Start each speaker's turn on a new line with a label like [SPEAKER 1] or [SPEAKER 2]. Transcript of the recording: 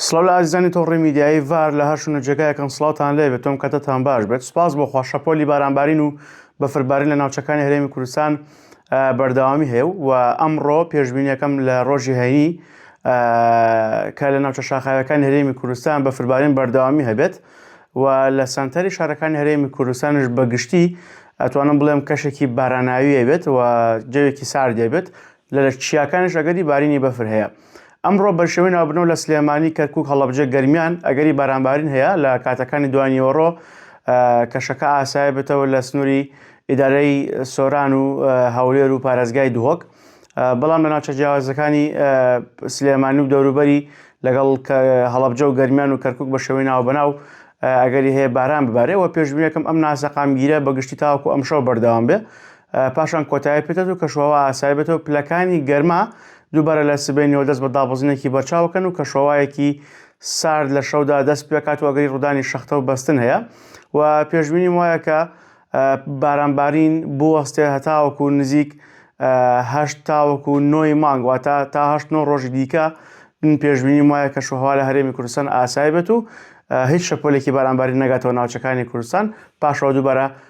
[SPEAKER 1] سڵاو لە ئازیزانی تۆڕی میدیایی ڤار لە هەر شوونە جێگایەکەن سڵاوتان لێ بێت تۆم کەتەتان باش بێت سپاس بۆ خوا شەپۆلی بارانبارین و بەفربارین لە ناوچەکانی هەرێمی کوردستان بەردەوامی هەیە و ئەمڕۆ پێشببینیەکەم لە ڕۆژی هەینی کە لە ناوچە شاخاوەکانی هەرێمی کوردستان بە فربارین بەردەوامی هەبێت و لە سنتەری شارەکانی هەرێمی کوردستانش بەگشتی ئەتوانم بڵێم کەشێکی باراناویە بێت و جەوێکی ساردێ بێت لە لە چیاکانیش ئەگەری بارینی بەفر هەیە. ئەمڕۆ بەرشێوەی ناوبرنەوە لە سلێمانی، کەرکوک، هەڵەبجە، گەرمیان ئەگەری بارانبارین هەیە لە کاتەکانی دوای نیوەڕۆ کەشەکە ئاسای بێتەوە لە سنووری ئیدارەی سۆران و هەولێر و پارێزگای دهۆک بەڵام لە ناوچە جیاوازەکانی سلێمانی و دەوروبەری لەگەڵ هەڵەبجە و گەرمیان و کەرکک بە شێوەی ناو بەناو ئەگەری هەیە باران ببارێ و پێشبینەکەم ئەم ناسەقامگیرە بەگشتی تاوکو ئەمشەو بەردەوام بێ پاشان کۆتایی پێدات و کەشوهەوا ئاسایی بێتەوە پلەکانی گەرما دووبارە لە سبەینەوە دەست بە دابەزینێکی بەرچاوەکەن و کەشوهەوایەکی سارد لە شەودا دەست پێکات و ئەگەری ڕوودانی شەختە و بەستن هەیە و پێشبینی وایە کە بارانبارین بوەستێ هەتاوەکو نزیک هەشت تاوەکو نۆی مانگ واتە تا هەشت نۆ ڕۆژی دیکە من پێشبینی وایە کە شوهوا لە هەرێمی کوردستان ئاسای بێت و هیچ شەپۆلێکی بارانباری نەگاتەوە ناوچەکانی کوردستان پاشەوە دووبارە